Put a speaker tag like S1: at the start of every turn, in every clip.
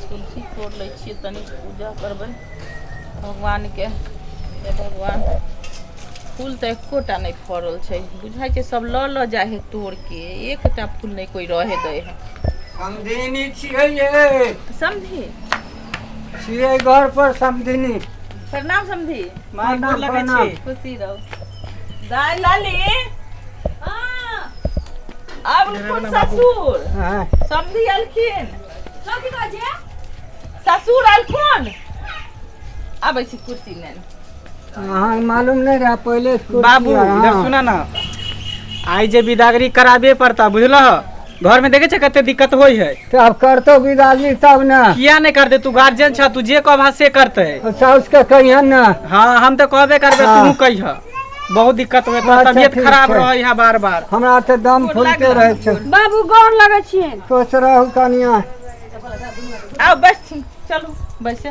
S1: तुलसी तोड़ लै छियै तनी पूजा करबै भगवानके हे भगवान फूल तऽ एकोटा नहि फड़ल छै बुझाइ छै सब लऽ लऽ जाइ है तोड़ के एकटा फूल नहि कोइ रहे दै है
S2: समझी छियै घर पर समधिनी प्रणाम समधी
S1: माय गोर लगै
S2: छी खुशी रहू
S1: दाय लाली आब खुद ससुर समधी
S2: अलखिन
S1: ससुर अलखुन आबै छी कुर्सी नेन अहाँ
S2: मालूम नहीं रहा पहले स्कूल बाबू की है, इधर हाँ।
S3: सुना ना आइ जे बिदागरी कराबे पड़ता बुझल घर में देखे छै कते दिक्कत होइ है तो अब करतो
S2: बिदाली तब ना किया नहीं करते तू
S3: गार्जियन छ तू जे कहबा से करते और साउस के कहिए
S2: ना हाँ हम तो कहबे
S3: करबे हाँ। तू कहिह बहुत दिक्कत हुए अच्छा, तबियत ठीक खराब छै। रहे
S2: है
S3: बार
S2: बार
S3: हमरा तो दम फूलते
S2: रहे छो बाबू गोर लगै
S4: छियै सोच रहू कनिया
S1: आउ बैठ चलू बैसे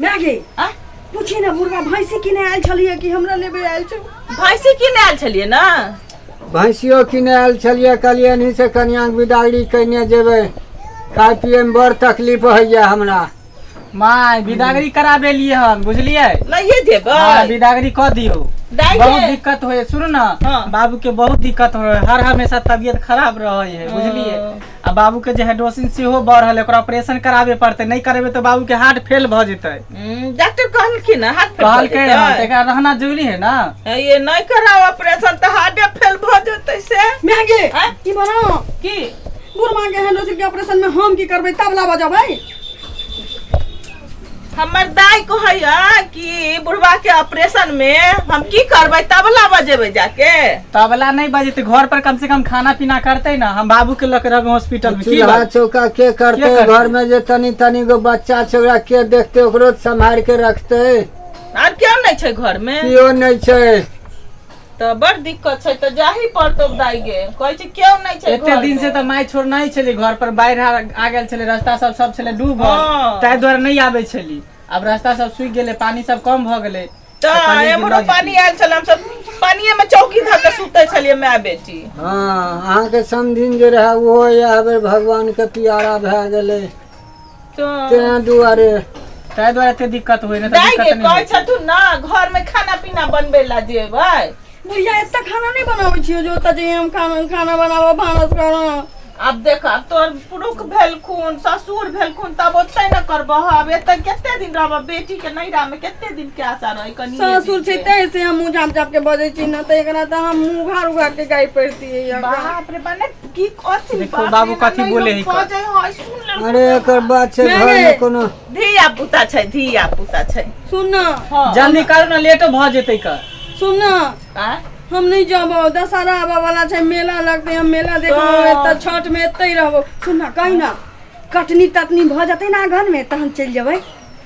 S1: मैगी
S4: आ? पूछी
S1: ना बुढ़वा
S4: भैंसी किने आयल छलिए कि हमरा लेबे आयल छौ भैंसी किने आयल
S1: छलियै ने भैंसियो
S2: किने आयल छलियै कहलियै एनही से कनियाँके बिदागरी कयने जेबै खाय पियैमे बड़ तकलीफ होइए हमरा माय
S3: बिदागरी करा देलिए हन बुझलिए लइए देबै हाँ,
S1: बिदागरी कह
S3: दियो दाई बहुत के- दिक्कत
S1: होए
S3: सुनो ना हाँ। बाबू के बहुत
S1: दिक्कत
S3: होए हर हमेशा तबीयत खराब रहे है बुझलिए आ बाबू के जे हाइड्रोसिन सेहो बढ़ल है ओकरा ऑपरेशन कराबे पड़ते नहीं करेबे तो बाबू के हार्ट फेल भ जेते हम्म, डॉक्टर कहलखिन
S1: ना हाथ फेल कहल के भऽ जेतै। तेकरा रहना
S3: जरूरी है ना ये नहीं कराओ
S1: ऑपरेशन तो हार्टे फेल भ जेतै से मैगे आँय? ई
S4: बनाओ की
S1: बुढ़वा के
S4: हैंडोसिल के ऑपरेशन में हम की करबै तबला बजबै
S1: हमर दाय कहैया कि बुढ़वा के ऑपरेशन में हम की करबै तबला बजेबै जाके तबला नहीं
S3: बजेते घर पर कम से कम खाना पीना करते ना हम बाबू के लग रहे हॉस्पिटल में की चूल्हा बात? चौका के
S2: करते
S3: के करते?
S2: घर में जे तनी
S3: तनी
S2: गो बच्चा छै ओकरा के देखते ओकरो सम्हार के रखते आर केओ
S1: नहि छै घर में केओ नहीं छै
S2: तऽ
S1: बड़ दिक्कत छै तऽ जाही पड़तौ दाई गे कहै छै केओ नहि छै एते घर दिन से मे। तऽ माय छोड़
S3: नहि छली घर पर बाढ़ि आ- आ गेल छलै रास्ता सब सब छलै डूबल हँ। ताहि दुआरे नहि
S1: आबै
S3: छली आब रास्ता सब सूखि गेलै पानी सब कम भऽ गेलै तऽ कहलियै कि एम्हरो लऽ
S1: जेतै। पानी
S3: आयल छल हमसब
S1: पानिये मे चौकी धऽ के सुतै छलियै माय बेटी हँ अहाँके
S2: समधिन जे रहए ओहो इएह बेर भगवानके पियारा भए गेलै
S1: तें दुआरे
S2: ताहि दुआरे एते
S3: दिक्कत होइ नहि तऽ दाइ दिक्कत के नहि कहै होइ। छथु ना
S1: घर
S3: में
S1: खाना पीना बनबे ला जेबै बुढ़िया एते
S4: खाना नहीं बनावे छियो जो ओतऽ जाइए हम खाना खाना बनाबो भानस करो आब देख आब
S1: तोर पुरुख भेलखुन ससुर भेलखुन तब ओते ने करबह आब एते कते दिन रहबह बेटी के नैहरा में कते दिन के आशा रहै कनी सासुर छै तै से
S4: हम मुँह झाँप झाँप के बजै छी ना तऽ एकरा तऽ हम मुँह उघार उघार के गाय पड़ती है बाप रे बने
S1: की कथी देखो बाप बाबू रे, कथी ननैद
S3: बोले है कह का। जाइ
S1: हय, सुन ले। अरे एकर बात छै घर
S2: मे कोनो धिया पुता छै
S1: धिया पुता छै सुन न हाँ,
S4: जल्दी कर ना
S1: लेटो
S3: भ जेतै का सुन न आ?
S4: हम
S1: नहीं जाबो
S4: दशहरा आबा वाला छै मेला लगते हम मेला देखबो तो- एतऽ छठ में एतै रहबो सुन न कहि न कटनी तटनी भऽ जेतै ना घर में तहन चलि जेबै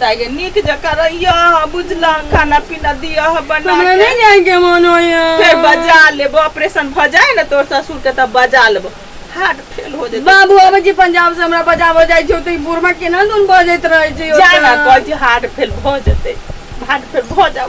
S4: दाइगे
S1: नीक जकाँ रहियो अहाँ बुझलहुँ खाना पीना दियो अहाँ बना हमरा के। नहीं जाएंगे मन
S4: होया फेर बजा लेबो
S1: ऑपरेशन भ जाए ने तोर ससुर के तब बजा लेबो हार्ट फेल हो जेतै बाबू अब जी पंजाब से
S4: हमरा बजाबो जाइ छौ त ई बुढ़मा केना दुन बजैत
S1: रहै छै
S4: जाना
S1: कहै छी हार्ट फेल भ जेतै
S4: हार्ट
S1: फेल भ
S4: जाउ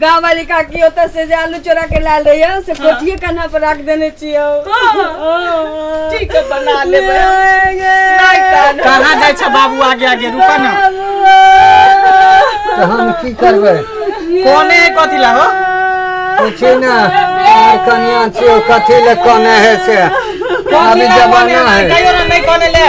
S4: गाँव वाली काकी ओतऽ से जे आलू चोरा के लायल रहियो से कोठिए कान्हा पर राख देने छियो
S1: ठीक है बना ले
S3: कहाँ जाइ छ बाबू आगे आगे रुक न
S2: तो हम की करबै कोने है
S3: कथी ला हो पूछी
S2: ना आर कनिया छियो कथी ले कने है से अभी जमाना है कहियो ना नहीं कोने ले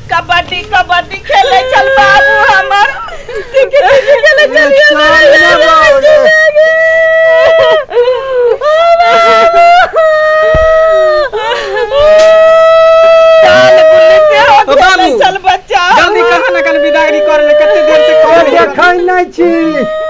S1: कबड्डी कबड्डी खेले चल बाबू हमर खेले
S3: चलिए बाबू चल बच्चा
S1: जल्दी कहाँ ना कन
S3: विदागरी कर ले कते देर से कॉल देखै नै छी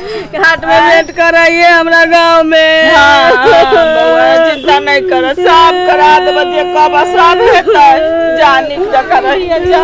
S1: घाट में आँय?
S4: भेंट कराइए हमरा गांव में हाँ, हाँ, बौआ,
S1: चिंता नहीं कर सब करा देबो जे कब सब हेतै जा नीक जकाँ रहिए जा